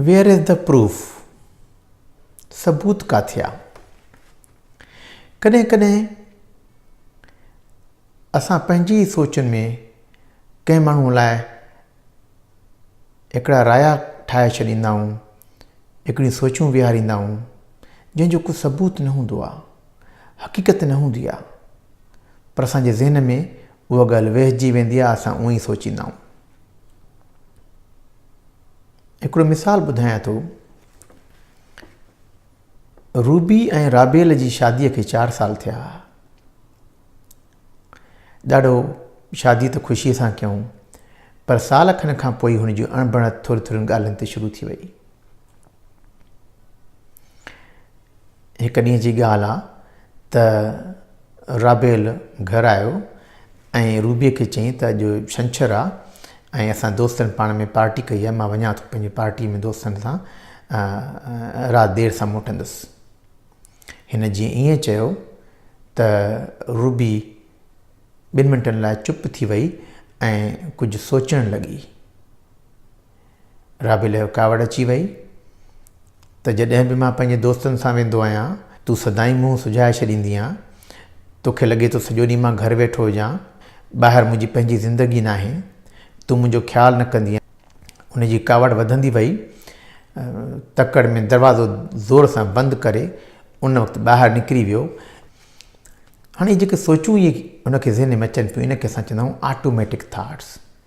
Where is the proof? ثبوت ڪاٿي آ؟ ڪڏهن ڪڏهن اسان پنهنجي ئي سوچن ۾ ڪنهن ماڻهوء لاء هڪڙا رايا ٺاهي ڇڏيندا آهيون، هڪڙيون سوچون ويهاريندا آهيون، جنهن جو ڪو ثبوت نه هوندو آ، حقيقت نه هوندي آ، پر اسان جي ذهن ۾ اها ڳالهه ويهجي ويندي آ، اسان اونهي سوچيندا آهيون. هڪڙو مثال ٻڌايان ٿو. روبي ۽ رابيل جي شاديء کي چار سال ٿيا هئا. ڏاڍو شادي ته خوشيء سان ڪيائون پر سال کن کان پوء هن جي اڻبڻت ٿوري ٿورين ڳالهين تي شروع ٿي وئي. هڪ ڏينهن جي ڳالهه آ ته رابيل گهر آيو ۽ روبيء کي چيائين ته اڄ ڇنڇر آ ۽ اسان دوستن پاڻ ۾ پارٽي ڪئي آ مان وڃان ٿو پنهنجي پارٽي ۾ دوستن سان رات دير سان موٽندس هن جيئن ائين چيو ته روبي ٻن منٽن لاء چپ ٿي وئي ۽ ڪجهه سوچڻ لڳي رابيل کي ڪاوڙ اچي وئي ته جڏهن به مان پنهنجي دوستن سان ويندو آهيان، تون سدائين منهن سجهائي ڇڏيندي آهين. توکي لڳي ٿو سڄو ڏينهن مان گهر ويٺو هجان. ٻاهر منهنجي پنهنجي زندگي ناهي. تون منهنجو خيال نه ڪندي آهين. هن جي ڪاوڙ وڌندي وئي. تڪڙ ۾ دروازو زور سان بند ڪري ان وقت ٻاهر نڪري ويو. هاڻي جيڪي سوچون ئي هن کي ذهن ۾ اچن پيون ان کي اسان چوندا آهيون آٽوميٽڪ ٿاٽس.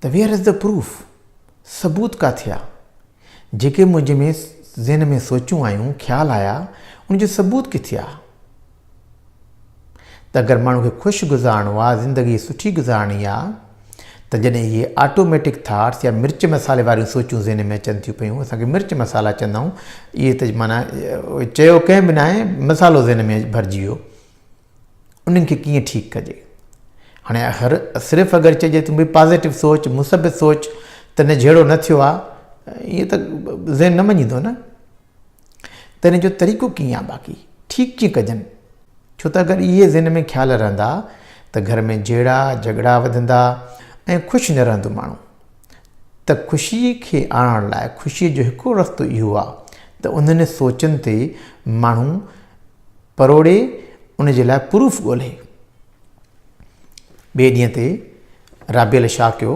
ته ويئر از دي پروف؟ ثبوت ڪاٿي آ؟ جيڪي منهنجي ۾ ذهن ۾ سوچون آيون، خيال آيا، ان جو ثبوت ڪٿي آ؟ ته اگر ماڻهو کي خوش گذارڻو آ، زندگي سٺي گذارڻي آ، ته جڏهن اهي آٽوميٽڪ ٿاٽس يا مرچ مصالحي واريون سوچون ذهن ۾ اچن ٿيون پيون، اسان کي مرچ مصالحا چوندا آهيون، اهي ته معنيٰ چيو ڪنهن به ناهي، مصالحو ذهن ۾ ڀرجي ويو. انهن کي ڪيئن ٺيڪ ڪجي. هاڻي هر صرف اگر چئجي ته بي پازيٽو سوچ مثبت سوچ ته نه جهيڙو نه ٿيو آهي ايئن ته ذهن نه مڃيندو نه ته ان جو طريقو ڪيئن آهي باقي ٺيڪ ڪيئن ڪجن ڇو ته اگر اهي ذهن ۾ خيال رهندا ته گهر ۾ جهيڙا جهڳڙا وڌندا ۽ خوش نه رهندو ماڻهو ته خوشي کي آڻڻ لاء خوشي جو هڪڙو رستو اهو آهي ته انهن سوچن تي ماڻهو پروڙي ان جي لاء پروف ڳولهي. ٻئي ڏينهن تي رابيل شاهه ڪيو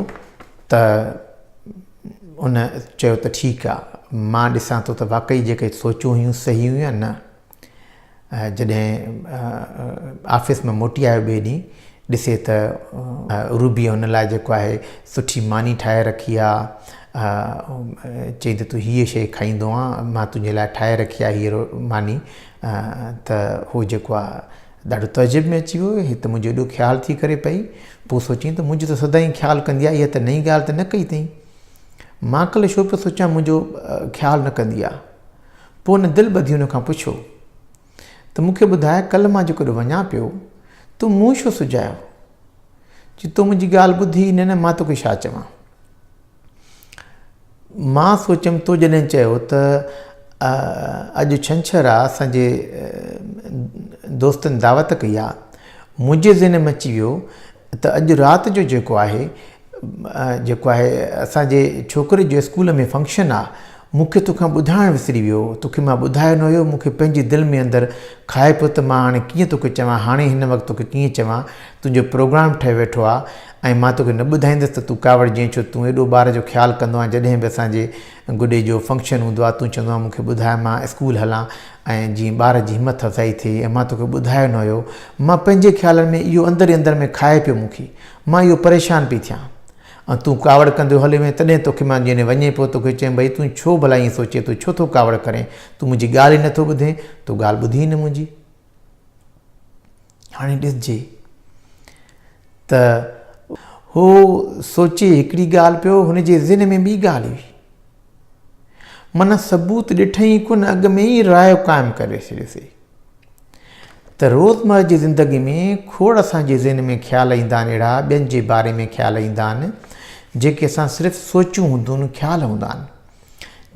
ته ان چيو ته ٺيڪ آ مان ڏسان ٿو ته واقعي جيڪي سوچون هيون صحيح هيون يا نه. جڏهن آفيس مان موٽي آيو ٻئي ڏينهن ڏسي ته روبيء ان لاء جيڪو آهي سٺي ماني ٺاهي رکي آ. اها چئي ته تون هيء شيء کائيندو آن مان تنهنجي لاء ٺاهي رکي آهي هيء ماني ته هو جيڪو آهي ڏاڍو تعجب ۾ اچي ويو هي ته منهنجو ايڏو خيال ٿي ڪري پئي پوء سوچيائين ته منهنجو ته سدائين خيال ڪندي آهي اها ته نئين ڳالهه ته نه ڪئي اٿئين مان ڪلهه ڇو پيو سوچيان منهنجو خيال نه ڪندي آهي پوء ان دل ٻڌي ان کان پڇيو ته مون کي ٻڌاء ڪلهه مان جيڪڏهن وڃان پيو تو مون ڇو سجايو؟ جي تو منهنجي ڳالهه ٻڌي ئي نه نه مان توکي ڇا چوان؟ مان سوچيم تو جڏهن چيو ته اڄ ڇنڇر آ اسان جي دوستن دعوت ڪئي آ منهنجي ذهن ۾ اچي ويو ته اڄ رات جو جيڪو آهي جيڪو آهي اسان جي ڇوڪري جو اسڪول ۾ فنڪشن آ مون کي توکان ٻڌائڻ وسري ويو هو توکي مان ٻڌايو نه هيو مون کي پنهنجي دل ۾ اندر کائي پيو ته مان هاڻي ڪيئن توکي چوان هاڻي هن وقت توکي ڪيئن چوان تنهنجو پروگرام ٺهي ويٺو آ ۽ مان توکي نه ٻڌائيندس ته تون ڪاوڙ جئين ڇو تون ايڏو ٻار جو خيال ڪندو آهين جڏهن به اسان جي گڏي جو فنڪشن هوندو آ تون چوندو آ مون کي ٻڌاء مان اسڪول هلان ۽ جيئن ٻار جي همٿ افزائي ٿئي ۽ مان توکي ٻڌايو نه هيو مان پنهنجي خيالن ۾ اهو اندر ئي اندر ۾ کائي پيو مون کي مان اهو پريشان پئي ٿيان ۽ تون ڪاوڙ ڪنديو هليو وئين تڏهن توکي مان جڏهن وڃي پيو توکي چيم ڀئي تون ڇو ڀلا ائين سوچين تون ڇو ٿو ڪاوڙ ڪرين تون منهنجي ڳالهه ئي نه ٿو ٻڌين تو ڳالهه ٻڌي ئي نه منهنجي هاڻي ڏسجي ته هو سوچي هڪڙي ڳالهه پيو هن جي ذهن ۾ ٻي ڳالهه هئي من ثبوت ڏٺئي ئي ڪونه اڳ ۾ ئي راء قائم ڪري ڇڏيسي ته روزمره جي زندگي ۾ کوڙ اسان جي ذهن ۾ خيال ايندا آهن اهڙا ٻين جي باري ۾ خيال ايندا آهن جيڪي اسان صرف سوچيون هونديون خيال هوندا آهن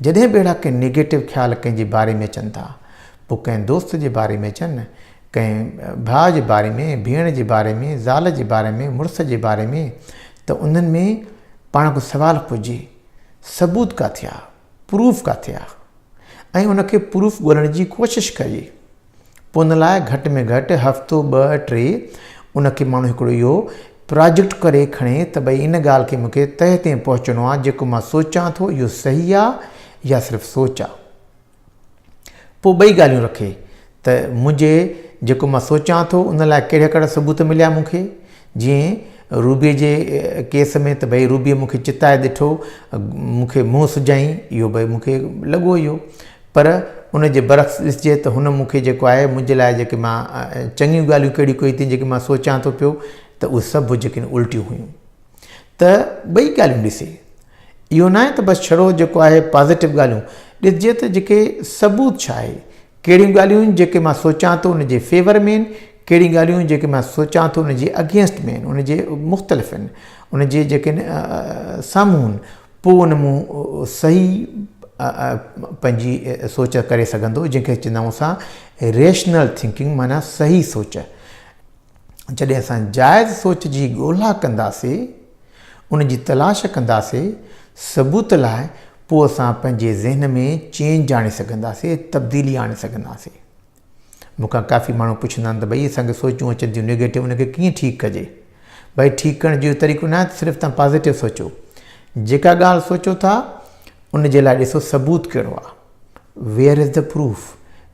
جڏهن به اهڙا ڪي نيگيٽو خيال ڪنهن جي باري ۾ اچن ٿا پوء ڪنهن دوست جي باري ۾ اچن ڪنهن ڀاء جي باري ۾ ڀيڻ جي باري ۾ زال جي باري ۾ مڙس جي باري ۾ ته انهن ۾ پاڻ ڪو سوال پجي ثبوت ڪاٿي آ پروف ڪاٿي آ ۽ ان کي پروف ڳولڻ جي ڪوشش ڪجي پو ان لاء گهٽ ۾ گهٽ هفتو ٻه ٽي ان کي ماڻهو هڪڙو اهو پراجيڪٽ ڪري کڻي ته ڀئي ان ڳالهه کي مونکي تهه تائين پهچڻو آ جيڪو مان سوچان ٿو اهو صحيح آ يا صرف سوچ آ. پوء ٻئي ڳالهيون رکي ته منهنجي جيڪو مان سوچان ٿو ان لاء ڪهڙا ڪهڙا ثبوت مليا مون کي جيئن روبيء جي ڪيس ۾ ته ڀئي روبيء مون کي چتائي ڏٺو مون کي منهن سجائين اهو ڀئي مون کي لڳو اهو پر ان جي برعڪس ڏسجي ته هن مون کي جيڪو آهي منهنجي لاء جيڪي مان چڱيون ڳالهيون ڪهڙيون ڪيون ٿي جيڪي مان سوچان ٿو پيو ته اهي سڀ جيڪي الٽيون هيون ته ٻئي ڳالهيون ڏسي. اهو ناهي ته بس ڇڙو جيڪو آهي پازيٽو ڳالهيون ڏسجي ته جيڪي ثبوت ڇا آهي، ڪهڙيون ڳالهيون جيڪي مان سوچان ٿو ان جي فيور ۾ آهن، ڪهڙيون ڳالهيون جيڪي مان سوچان ٿو ان جي اگينسٽ ۾ آهن، ان جي مختلف آهن، ان جي جيڪي سامهون آهن، پوء ان مون صحيح پنهنجي سوچ ڪري سگهندو جنهن کي چوندائون اسان ريشنل ٿنڪنگ معنيٰ صحيح سوچ. جڏهن اسان جائز سوچ جي ڳولها ڪنداسي، ان جي تلاش ڪنداسي، ثبوت لاء، پوء اسان پنهنجي ذهن ۾ چينج آڻي سگهنداسي، تبديلي آڻي سگهنداسي. مون کان ڪافي ماڻهو پڇندا آهن ته ڀئي اسان کي سوچون اچن ٿيون نيگيٽو ان کي ڪيئن ٺيڪ ڪجي؟ ڀئي ٺيڪ ڪرڻ جو طريقو نه آهي ته صرف تان پازيٽو سوچو. جيڪا ڳالهه سوچو ٿا ان جي لاء ڏسو ثبوت ڪهڙو آهي. Where is the proof؟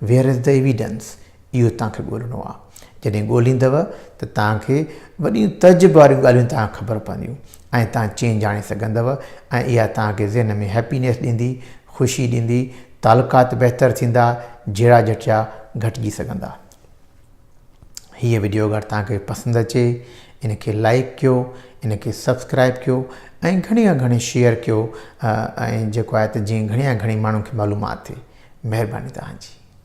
Where is the evidence؟ اهو توهان کي ڳولهڻو آهي. جڏهن ڳولهيندؤ ته توهان کي وڏيون تعجب واريون ڳالهيون توهان کي خبر پونديون ۽ توهان چينج آڻي سگهندؤ ۽ اها توهان کي ذهن ۾ هيپينيس ڏيندي، خوشي ڏيندي، تعلقات بهتر ٿيندا، جهيڙا جهٽيا گهٽجي سگهندا. هيء وڊيو اگر توهان کي پسند اچي ان کي لائيڪ ڪيو، ان کي سبسڪرائيب ڪيو ۽ گهڻي کان گهڻي شيئر ڪيو ۽ جيڪو آهي ته جيئن گهڻي کان گهڻي ماڻهن کي معلومات ٿئي. مهرباني توهان جي.